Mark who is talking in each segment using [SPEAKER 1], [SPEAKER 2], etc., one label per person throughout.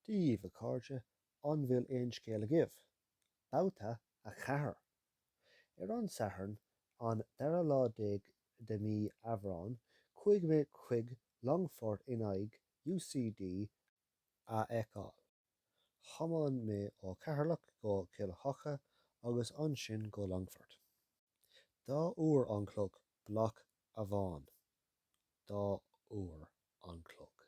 [SPEAKER 1] díbh, a chairde, an bhfuil aon scéal agaibh? Babhta 4! Ar an Satharn, an dara lá déag de mhí Aibreáin, chuaigh mé chuig Longfort in aghaidh UCD a fheiceáil. Thiomáin mé ó Cheatharlach go Cill Choca agus ansin go Longfort. Dhá uair an chloig, blag amháin. Dhá uair an chloig.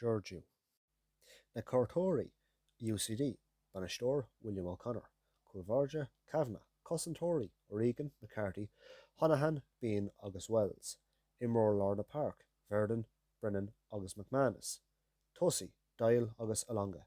[SPEAKER 1] Georgiou. Na cuairteoirí, UCD, Bainisteoir, William O'Connor. Cúl báire, Kavanagh. Cosantóirí, O'Regan, McCarthy, Honohan, Behan agus Wells. Imreoirí lár na páirc, Verdon, Brennan agus McManus. Tosaithe, Doyle agus Alonga.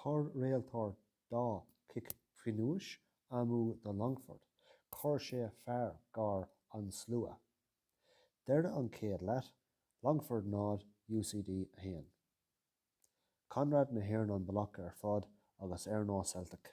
[SPEAKER 1] Chuir réiteoir dhá chic phionóis amú do Longford, chuir sé fearg ar an slua. Deireadh an chéad leath, Longford 0, UCD 1. Conradh na hÉireann an blag ar fad agus ar nó Celtic.